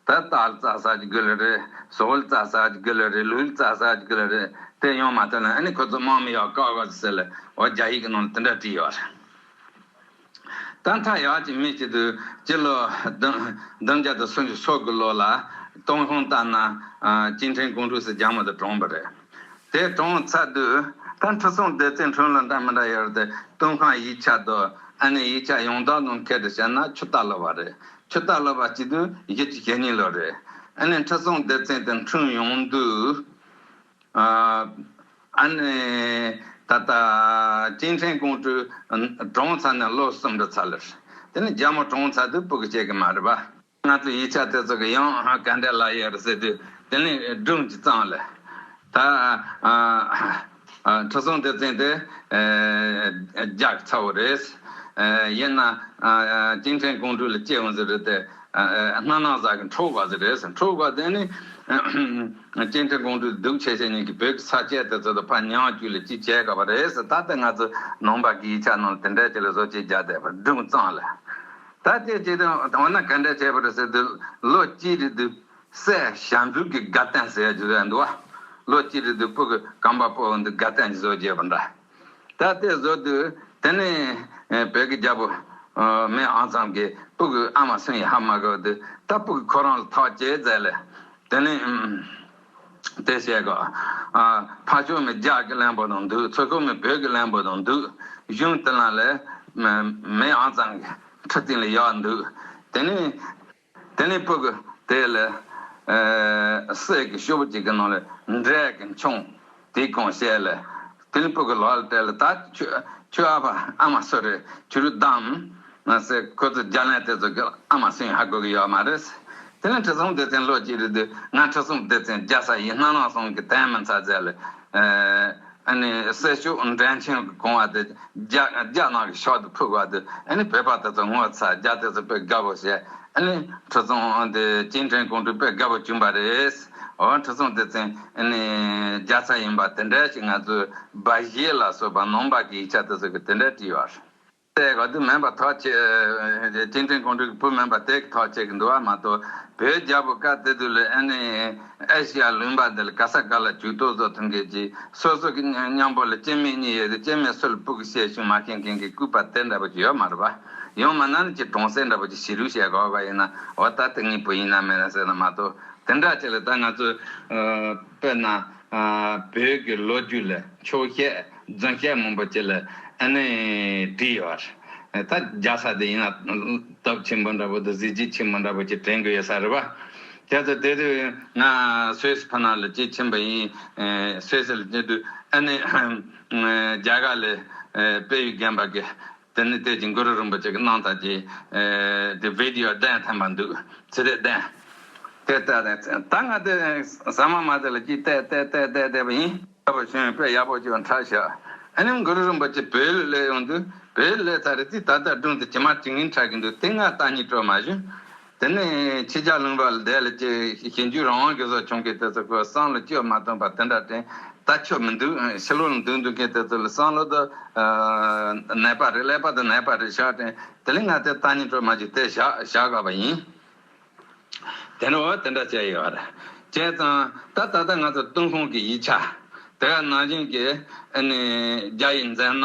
ད་ལྟ་ཨལ་རྩ་ས་ཀྱི་དགུ་ལ་རེད་སོ་ཨུལ་རྩ་ས་ཀྱི་དགུ་ལ་རེད་ལུའུལ་རྩ་ས་ཀྱི་དགུ་ལ་རེད་དེ་ཡོང་མ་ཐུག་ན་ཨ་ནི་ཁོ་ཚོ་མོ་མི་ཡག་ཀ་ག་ཟེར་ལ་འོ་རྒྱ་ཡིག་གི་ནང་ལ་དེ་འདྲ་བྲིས་ཡོད་རེད། ད་མཐའ་ཡག་ཅིག་མི་བྱེད་དུས་སྤྱི་ལོ་བདུན་བརྒྱ་དང་སུམ་ཅུ་སོ་དགུ་ལོ་ལ་ཏུང་ཧོང་ཏཱ་ན་ཅིན་ཁྲེང་ཀོང་ཀྲུའུ་སི་རྒྱ་མོ་དང་གྲོངས་པ་རེད། དེ་གྲོང་ཚ་དུས་ད་འཕྲུལ་སྲུང་སྡེ་ཚེ་འཕྲུལ་ལ་འདྲ་མི་འདྲ་ཡོད་དེ་ཏུན་ཁང་ཡིག་ཆ་དུ་ཨ་ནེ་ཡིག་ཆ་ཡོངས་དག་ནང་ཁེ་དྲི་བྱས་ན་ཆུ་རྟ་ལོ་བ་རེད་ཆུ་རྟ་ལོ་བ་སྤྱི་དུས་བཞི་ཅུ་ཞེ་གཉིས་ལོ་རེད་ཨ་ནེ་འཕྲུལ་སྲུང་སྡེ་ཚེ་དེ་འཕྲུལ་ཡོང་དུས་ཨ་ནེ་ད་ལྟ་ཅིན་ཁྲེང་ཀོང་ཀྲུའུ་གྲོང་ཚ་ནས་ལོ་གསུམ་རེ་ཚ་ལེར་དེ་ནི་རྒྱ་མོ་གྲོང་ཚ་དུས་སྤུ་གི་སྐྱེ་གི་མ་རེད་པ། ང་ཚོས་ཡིག་ཆ་དེ་ཚོ་གི་ཡང་ག་འདྲས་ལ་ཡོད་རེད་ཟེར་དུས་དེ་ནི་སྒྲུང་གི་གཙང་ལ། ད། ཁྲི་སྲོང་ལྡེ་བཙན་དེ། རྒྱག་ཚ་བོ་རེད། ཡིན་ན། གཅིན་ཕྲན་ཀོང་སྤྲུལ་ལ་སྐྱེས་བ་ཟེར་རེད་དེ། སྣ་ནག་བཟའ་གི་འཁྲུག་བ་ཟེར་རེད། འཁྲུག་བ་དེ་ནི། གཅིན་ཕྲན་ཀོང་སྤྲུལ་སྡུག་ཆེ་ཤེས་ཉིན་གྱི་བོད་ཀྱི་ས་སྐྱས་དེ་ཚོ་དང་ཕ་ཉང་བཅུ་ལས་ཅི་བྱས་ག་བ་རེད་ཟེར་ད་ལྟ་ང་ཚོ་ནང་པ་གི་ཡིག་ཆ་ནང་ལ་དེ་འདྲས་ཅིག་ལ་བཟོ་བྱས་རྒྱག་བསྡད་པ་སྒྲུང་གཙང་ལ། ད་ལྟའི་དུས་དང་འོ་ན་ག་འདྲ་བྱས་པར་ཟེར་དུས་ལོ་གཅིག་རེ་དུས་སའི་བྱ་འཛུགས་ཀྱི་དགའ་སྟན་ཟེར་ཡག་གི་བཟོ་ཡག་འདུག་བ། ལོ་གཅིག་རེ་དུས་སྤུ་གི་རྐང་པ་སྤོ་འདི་དགའ་སྟན་གྱི་བཟོ་བརྒྱད་པ་འདྲ། ད་ལྟའི་བཟོ་དུས་དེ་ནི་བོད་ཀྱི་རྒྱ་བོ། མེ་ཨང་ཚང་གིས་སྤུ་གི་ཨ་མ་སུན་ཡ་ཧ་མ་གོ་དུས་ད་སྤུ་གི་ཁོ་རང་ལ་ཐག་བཅད་མཛད་ལས་དེ་ནི། དེ་བྱས་ག། ཕ་ཆོས་མི་རྒྱ་གི་གླེན་པོ་དང་འདུག་ཚོ་ཆོས་མི་བོད་ཀྱི་གླེན་པོ་དང་འདུག་གཞུང་དེ་ལ་ལས། མེ་ཨང་ཙང་གི་ཁྲི་སྟེང་ལ་ཡག་འདུག་དེ་ནས། དེ་ནས་པུ་གུ་དེ་ལས། སྲས་ཀྱི་ཤོ་བུ་གཅིག་གི་ནང་ལ་འབྲས་ཀྱི་མཆོང། དེ་གང་བཤད་ལ། དེ་ནི་བུ་ག་ལགས་ལ་སྤྲད་ལ་ད་ཁྱོད་ཨ་ཕ་ཨ་མ་སུ་རེད་ཁྱོད་རུ་གདའམ། མ་ཟད་ཁོ་ཚོ་རྒྱ་ལན་དེ་ཚོ་གི་ཨ་མ་སུ་ཡིན་ཧ་དགོས་ཀྱི་ཡོད་མ་རེད། དེ་ནི་ཁྲི་སྲོང་ལྡེ་བཙན་ལོ་གཅིག་རེད་དུས་ང་ཁྲི་སྲོང་ལྡེ་བཙན་རྒྱ་བཟའ་ཡིན་སྣ་ལང་སོང་གི་དན་མི་མཚར་རྫས་ལ། ཨ་ནི་སྲས་ཤོག་འགྲན་ཆེན་གི་གོང་བ་དེ་རྒྱ་ནག་གི་ཤོག་དུ་ཕུག་བ་དུས་ཨ་ནི་བོད་པ་དེ་ཚོ་ངོ་ཚ་རྒྱ་དེ་ཚོ་དཔེ་དགའ་བོ་བཤད་ཨ་ནི་ཁྲི་སྲོང་ལྡེ་བཙན་ཁྲེང་ཀོང་སྤྲུལ་དཔེ་དགའ་བོ་བྱུང་བ་རེད། འོན་ཁྲི་སྲོང་ལྡེ་བཙན་ནི་རྒྱ་བཟའ་ཡིན་པ་དེ་འདྲ་ཞིག་ང་ཚོས་སྦ་བཞེད་ལ་སོགས་པ་ནོངས་པ་གི་ཡིག་ཆ་དེ་ཚོ་གི་དེ་འདྲ་བྲིས་བ་རེད། དེ་ག་དུས་མིན་པ་ཐོག་བཅས་སྤྱི་འཐུས་ཁོང་ཁྲོ་གི་བུ་མིན་པ་དེ་གི་ཐོག་བཅས་གི་འདུལ་བ་མ་གཏོགས་བོད་རྒྱལ་པོ་བཀའ་གཏེར་དུ་ལས་ཨེ་ནི་ཨེ་ཤི་ཡ་ལུང་པ་འདི་ལ་ག་ས་ག་ལ་བྱུས་ཏོག་ཟོ་ཐུང་གེ་ཅི་སོ་སོ་གི་མཉམ་པོ་ལ་སྐྱེ་མེད་གཉིས་ཡོད་དེ་སྐྱེ་མེད་སུ་ལ་པུག་གི་བཤད་ཤུགས་མ་ཤེས་མཁན་གི་སྐུད་པ་དེ་འདྲ་པོ་ཅིག་ཡོད་མ་རེད་པ། ཡང་མིན་ན་ནི་ཅི་གྲོང་གསེབ་འདྲ་པོ་ཅིག་བྱིས་ལུས་བཤད་དགོས་པ་ཡིན་ན་འོ་ད་དེ་གཉིས་བུ་ཡིན་ན་མིན་ན་ཟེར་ན་མ་གཏོགས། དེ་འདྲ་བྱས་ལ་ད་ང་ཚོས་དཔེར་ན་བོད་ཀྱི་ལོ་རྒྱུས་ལ་ཆོས་བཤད་རྫུན་བཤད་མང་པོ་བྱས་ལ་ཨ་ནི་བྲིས་ཡོད་རེད། ད་རྒྱ་ས་དེ་ཡིན་ན་སྟོབས་ཆེན་པོ་འདྲ་པོ་དང་གཟི་བརྗིད་ཆེན་པོ་འདྲ་པོ་ཞིག་དྲན་གྱི་ཡོད་ས་རེད་པ། དེ་ཚོ་དེ་དུས་ང་སུད་ཕ་ན་ལ་སྐྱེས་ཆེན་པ་ཡིན་སུད་སི་ལ་སྐྱེས་དུས་ཨ་ནི་རྒྱ་གར་ལས་དཔལ་ཡུལ་རྒན་པ་གི་དེ་ནི་དེབ་ཀྱི་འགོ་རུ་རིན་པོ་ཆེ་གི་སྣང་བརྟགས་ཀྱི་དེ Video གདན་ཐེམ་པར་འདུག་ཚེ་རིལ་གདན། དེ་བལྟས་ནས་ད་ང་དེ་ཟ་མ་མ་དེ་ལ་ཅིག་བལྟས་བལྟས་བལྟས་བལྟས་བལྟས་པ་ཡིན། ཡག་པོ་བྱུང་དཔེ་ཡག་པོ་བྱུང་འཕྲལ་ཞག་ཨ་ནེམ་འགོ་རུ་རིན་པོ་ཆེ་བེའུ་ལུས་ལས་ཡོང་དུས་བེའུ་ལུས་ལས་ཚ་རེ་ཙིས་ད་ལྟ་སྒྲུང་དེ་ཇི་མ་ཇི་ཡིན་ཁྲག་གི་འདུག་དེ་སྔ་བལྟ་གཉིས་དྲོད་མ་ཞུ། དེ་ནས་ཁྱེད་ཅག་ལུང་པ་ལ་བསྡད་ལ་ཅི་ཞེ་འཇུག་རང་དབང་གི་སོགས་བྱུང་མཁན་དེ་ཚོ་ཁོའི་བསམ་བློ་བཅོས་མ་ཐོན་པར་དེ་འདྲ་དྲན་ད་ཆོག་མི་འདུག་ཕྱི་ལོག་ལ་འདུག་འདུག་མཁན་དེ་ཚོ་ལ་བསམ་བློ་དོ། ནད་པ་རེད་ཀླད་པ་དང་ནད་པ་རེད་བཞག་དྲན་དེ་ལས་ང་དེ་ལྟ་ཉན་སྤྲོ་མ་བྱེད་དེ་བཞག་བཞག་དགའ་བ་ཡིན། དེ་འདྲ་བ་དེ་འདྲ་བྱས་ཡོད་རེད་བྱས་ཙང་ད་ད་ལྟ་ང་ཚོ་ཏུན་ཧོང་གི་ཡིག་ཆ་དེ་ག་ནང་བཞིན་གྱི་ཨ་ནི་རྒྱ་ཡིག་མཛད་ན།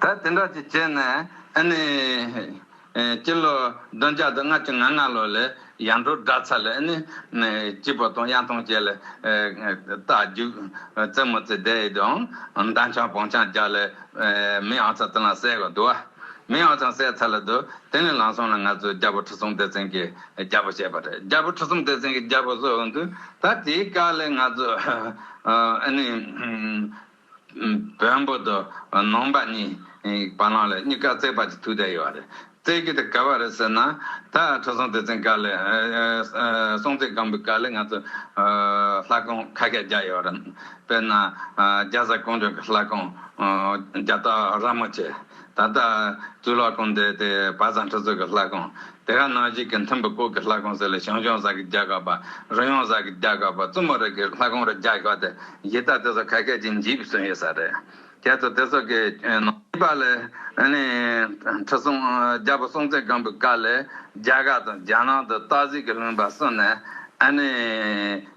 ད་དེ་འདྲ་ཅིག་བྱས་ན་ཨ་ནི། སྤྱི་ལོ་བདུན་བརྒྱ་དང་ལྔ་བཅུ་ང་ལྔ་ལོ་ལས་ཡང་འགྲོ་གྲྭ་ཚ་ལས་ཨ་ནི། སྐྱིད་པོ་དང་གཡང་ཐང་བཅས་ལས་རྟ་རྒྱུག། རྩེད་མོ་རྩེ་བསྡད་ཡོད་དུའང་མདའ་འཕྱང་བོང་འཕྱང་རྒྱག་ལས་མི་ཨང་ཚ་དེ་ལའང་བསད་གོ་འདུག་ཨ། མི་ཨང་ཚང་བསད་ཚར་ལ་འདུག་དེ་ནས་ལང་སོང་ལ་ང་ཚོའི་རྒྱལ་པོ་ཁྲི་སྲོང་ལྡེ་བཙན་གྱི་རྒྱལ་པོ་བྱས་པ་རེད་རྒྱལ་པོ་ཁྲི་སྲོང་ལྡེ་བཙན་གྱི་རྒྱལ་པོ་བཟོས་འོང་དུས་ད་དེའི་སྐབས་ལས་ང་ཚོ་ཨ་ནི། བོན་པོ་དང་ནང་པ་གཉིས་བ་ལང་ལ་གཉིས་ཀ་རྩེད་པ་གྱི་ཐུགས་དད་ཡོད་རེད། རྩེད་གི་དེ་ག་བ་རེད་ཟེར་ན། ད་ཁྲི་སྲོང་ལྡེ་བཙན་དཀའ་ལས། སྲོང་བཙན་སྒམ་པོའི་དཀའ་ལས་ང་ཚོ་ལྷ་སྒང་ཁ་ཁས་རྒྱག་ཡོད་རེད། དཔེར་ན་རྒྱ་བཟའ་ཀོང་ཇོ་གི་ལྷ་སྒང་རྒྱ་སྟག་ར་མོ་ཆེ། ད་ལྟ། དུས་ལ་གོམས་ཏེ་དེ་བ་བཟང་ཁྲི་ཚོ་གི་ལྷ་ཁང། དེ་ག་ནང་གཞིས་ཀྱི་མཐུན་པའི་སྐོར་གྱི་ལྷ་ཁང་ཟེར་ལ་ཞང་ཞུང་བཟའ་གི་རྒྱལ་ཁབ་པ། རུ་ཡོང་བཟའ་གི་རྒྱལ་ཁབ་པ་བཙུན་མོ་རིགས་ཀྱི་ལྷ་ཁང་རུ་རྒྱ་ཞོག་སྟེ་གཞིས་རྩ་དེ་ཚོ་ཁ་སྐད་ཅིག་འཇིག་བསུན་ཡོད་ས་རེད། ཁྱེད་ཚོ་དེ་ཚོ་གི་ནང་གཞིས་པ་ལས་ནི། ཁྲི་སྲོང་རྒྱལ་པོ་སྲོང་བཙན་སྒམ་པོའི་སྐབས་ལས་རྒྱ་གར་དང་རྒྱ་ནང་དུ་སྟག་གཟིག་གི་ལུང་པ་གསུངས་ནས་ཨ་ནི།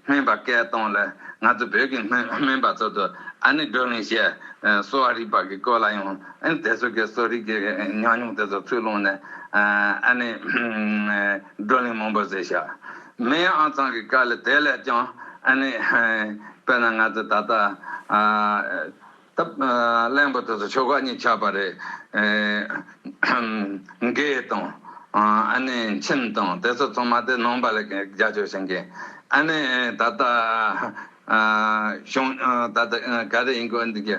སྨན་པ་སྐལ་སྟོང་ལ་ང་ཚོ་བོད་ཀྱི་སྨན་པ་ཚོ་དུ་ཨ་ནི་བགྲོ་གླེང་བྱས། གསོ་བ་རིག་པ་ཀྱི་སྐོར་ལ་ཡང་ཨ་ནི་དེ་ཚོ་ཀྱི་གསོ་རིག་ཀྱི་ཉམས་མྱོང་དེ་ཚོ་ཚུར་ལོངས་ནས་ཨ་ནི་བགྲོ་གླེང་མང་པོ་བྱས། སྨན་ཨང་ཚང་གི་སྐར་ལ་དེ་ལས་ཀྱང་ཨ་ནི་དཔེར་ན་ང་ཚོ་ད་ལྟ། ཐབས་གླེན་པོ་དེ་ཚོ་ཆོལ་ཁ་གཉིས་ཆགས་པ་རེད། རྒས་དང། ཨ་ནེ་མཆིན་དང་དེ་ཚོ་ཚང་མ་དེ་ནང་པ་ལས་རྒྱ་ཆོས་བྱེད་མཁན་ཨ་ནེ་ད་ལྟ་གཞུང་ད་ལྟ་ག་རེ་ཡིན་དགོས་འདུག་གི།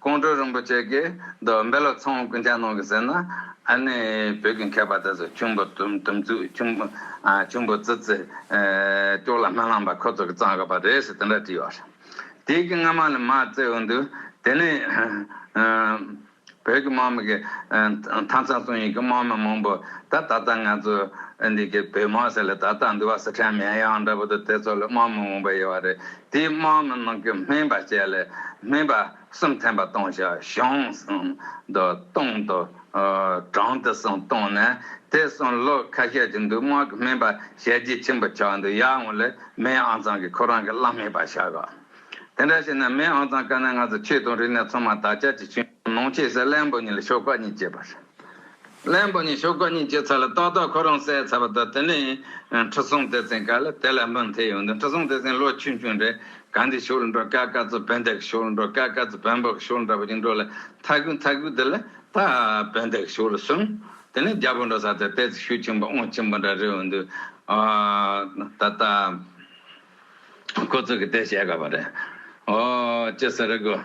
ཀོང་སྤྲུལ་རིན་པོ་ཆེ་གིས་རྡོ་སྦལ་ལ་ཚོང་སྐུ་མཆན་གནང་གི་ཟེར་ན་ཨ་ནི་བོད་ཀྱི་མཁས་པ་དེ་ཚོ་ཁྱུང་པོ་དུམ་ཚུགས་ཁྱུང་པོ་ཁྱུང་པོ་ཙི་ཙི་ཀྱོག་ལ་སྨན་བླངས་པ་ཁོ་ཚོ་གི་གཙང་གི་པ་རེད་ཟེར་དེ་འདྲ་བྲིས་ཡོད་རེད། དེའི་གི་སྔ་མ་ལས་མ་བརྩེ་འོས་འདུག་དེ་ནི་བོད་ཀྱི་དམག་མི་གི་མཐའ་མཚམས་སྲུང་ཡིག་གི་དམག་མི་མང་པོ་ད་ད་ལྟ་ང་ཚོ་འདི་གི་བོད་དམག་ཟེར་ལ་ད་ལྟ་འདུག་བ་སི་ཁྲོན་མེན་ཡང་འདྲ་པོ་དེ་ཚོ་ལ་དམག་མི་མང་པོ་ཡོད་རེད། དེའི་དམག་ནི་ནང་གི་སྨན་པ་བྱས་ལས་སྨན་པ་གསུམ་ཐེམ་པ་གཏོང་བྱ་གཞུང་གསུམ་དུ་གཏོང་དུ་གྲངས་དེ་གསུམ་གཏོང་ནས་དེ་གསུམ་ལོ་ཁ་ཤས་ཀྱི་འདུག་དམག་གི་སྨན་པ་ཞལ་གྱིས་ཆེན་པོ་ཆགས་འདུག་ཡར་སྔོན་ལས་སྨན་ཨང་ཚང་གི་ཁོ་རང་གི་བླ་སྨན་པ་ཆགས་ག་དེ་འདྲ་བྱས་ནས་སྨན་ཨང་ཚང་དཀའ་ན་ང་ཚོ་ཆོས་དུང་རི་ནས་ཚང་མ་དར་ཆ་གྱི་ཆུ་ནང་ཆས་སའི་གླལ་འབུ་གཉིས་ལ་ཤོག་ཁག་གཉིས་བཅད་པ་རེད། གླེན་པོ་ནི་ཤོ་ཀ་གཉིས་ཀྱི་ཚ་ལ་ཏག་ཏག་ཁོ་རང་བསད་ཚར་བ་དང་དེ་ནས་ཁྲི་སྲོང་ལྡེ་བཙན་བཀའ་ལ་དེ་ལ་མི་མཐུན་ཡོང་དུས་ཁྲི་སྲོང་ལྡེ་བཙན་ལོ་ཆུང་ཆུང་རེད་ག་འདི་ཤོ་ལ་འགྲོ་དཀའ་དཀའ་ཚོ་བོན་བདག་གི་ཤོ་ལ་འགྲོ་དཀའ་དཀའ་ཚོ་བོན་པོ་གི་ཤོ་ལ་འདྲ་པོ་ཅིག་འགྲོ་ལ་མཐའ་གུས་མཐའ་གུས་དེ་ལ་ད་བོན་བདག་གི་ཤོ་ལ་སོང་དེ་ནས་རྒྱལ་པོ་འགྲོ་ས་དེར་དེ་ཚོ་ཤུལ་ཆེན་པོ་ཨོང་ཆེན་པོ་འདྲ་རེ་ཡོང་དུས་ཨོ་ད་ད་ཁོ་ཚོ་གི་དེ་བཤད་དགོས་པ་རེད་ཨོ་ཅི་ཟེར་དགོས།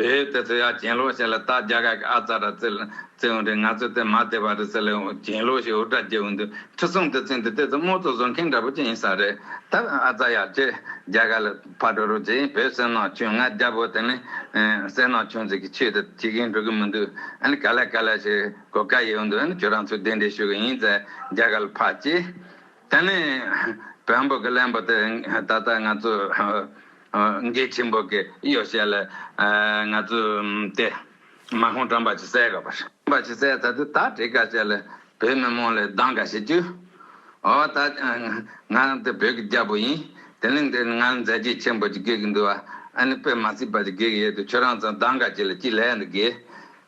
བོད་དུ་སུ་ཡང་གྱེན་ལོག་བྱས་ལ་རྟ་རྒྱ་གར་གྱི་ཨ་ཙ་ར་བཙིར་ལ་བཙིར་འོང་དུས་ང་ཚོས་དེ་མ་བདེ་བ་རེད་ཟེར་ལ་གྱེན་ལོག་ཞིག་འུར་སྒྲ་བརྒྱབ་འོང་དུས་ཁྲི་སྲོང་དུ་བརྩིས་འདི་ལྟས་ཚོ་དམོད་ཚོ་བཟོ་མཁན་འདྲ་པོ་ཅིག་ཡིན་ས་རེད་ད་ཨ་ཙ་ཡག་ཁྱེད་རྒྱ་གར་ལ་ཕར་འགྲོ་རོགས་ཅེས་བོད་བསོད་ནམས་ཆུང་ང་རྒྱ་བོད་དེ་ནི་བསོད་ནམས་ཆུང་ཟེར་གི་ཆོས་དེ་བྱེད་གིན་འགྲོ་གི་མི་འདུག་ཨ་ནི་ག་ལ་ག་ལ་ཞིག་གོ་དཀའ་ཡི་འོང་དུས་ཨ་ནི་ཁྱོད་རང་ཚོས་དེ་འདྲས་ཞུ་གི་ཡིན་ཟེར་རྒྱ་གར་ལ་ཕར་ཅེས། དེ་ནས་བོན་པོ་གི་གླེན་པོ་དེ་ད་ལྟ་ང་ཚོའི་འགའི་ཆེན་པོ་གི་གཡོ་བྱད་ལ་ང་ཚོའི་དེ་མ་ཧོང་བཀྲམ་པ་ཆུ་སེར་ག་པར། བཀྲམ་པ་ཆུ་སེར་ད་དུ་ད་བྲིས་ཀ་བྱས་ལ་བོད་མི་མང་ལ་སྡང་ག་བྱེད་རྒྱུ། འོ་ད་ང་དེ་བོད་ཀྱི་རྒྱལ་པོ་ཡིན་དེ་གླིང་འདིར་ང་མཛད་རྗེས་ཆེན་པོ་ཅིག་དགོས་ཀྱི་འདུག་ཨ་ནི་དཔེ་མ་སྲིད་པ་ཅིག་དགོས་ཀྱི་ཡོད་དུ་ཁྱོད་རང་ཚང་སྡང་ག་བྱེད་ལ་ཅི་ལས་འདི་དགོས།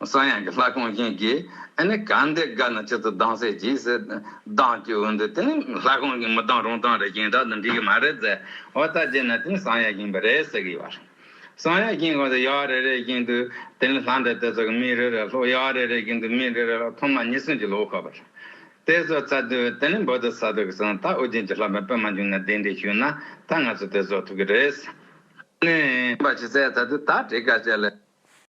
གསང་ཡང་གི་ལྷ་གང་བཞིན་གྱིས་ཨེ་ནི་གང་འདི་དགའ་ན་ཅི་ཚུལ་སྡང་སེ་གྱིས་སེ་སྡང་གྱི་འོ་འདི་དེ་ནི་ལྷ་གང་གིས་མི་སྡང་རུང་སྡང་རེ་གྱིན་བདག་འདི་འགྲིག་གི་མ་རེད་ཟེ་བ་ལྟ་བྱས་ན་དེ་ནི་གསང་ཡང་གྱིན་པ་རེད་ཟེ་གི་ཡོད་གསང་ཡང་གྱིན་གང་ཟེ་ཡག་རེ་རེ་གྱིན་དུ་དེ་ནི་ལྷ་འདྲེ་དེ་ཚོ་གི་མིག་རེ་རེ་ལྷོག་ཡག་རེ་རེ་གྱིན་དུ་མིག་འདྲེ་རེ་ལྷོག་ཐོག་མ་ཉི་སྲིང་གྱི་ལོ་ཁ་པར་དེ་ཚོ་བཙའ་དུས་དེ་ནི་འབོ་དུ་ས་དུ་གི་སང་ད་ཨོ་རྒྱན་གྱི་ལྷ་མོའི་པད་མ་འབྱུང་ན་དེ་འདྲས་ཞུས་ན་ད་ང་ཚོ་དེ་བཟོ་ཐུབ་གི་རེད་ཟེ་ནས། བྱས་ད་དུས་ད་བྲིས་དཀའ་བྱས་ལ།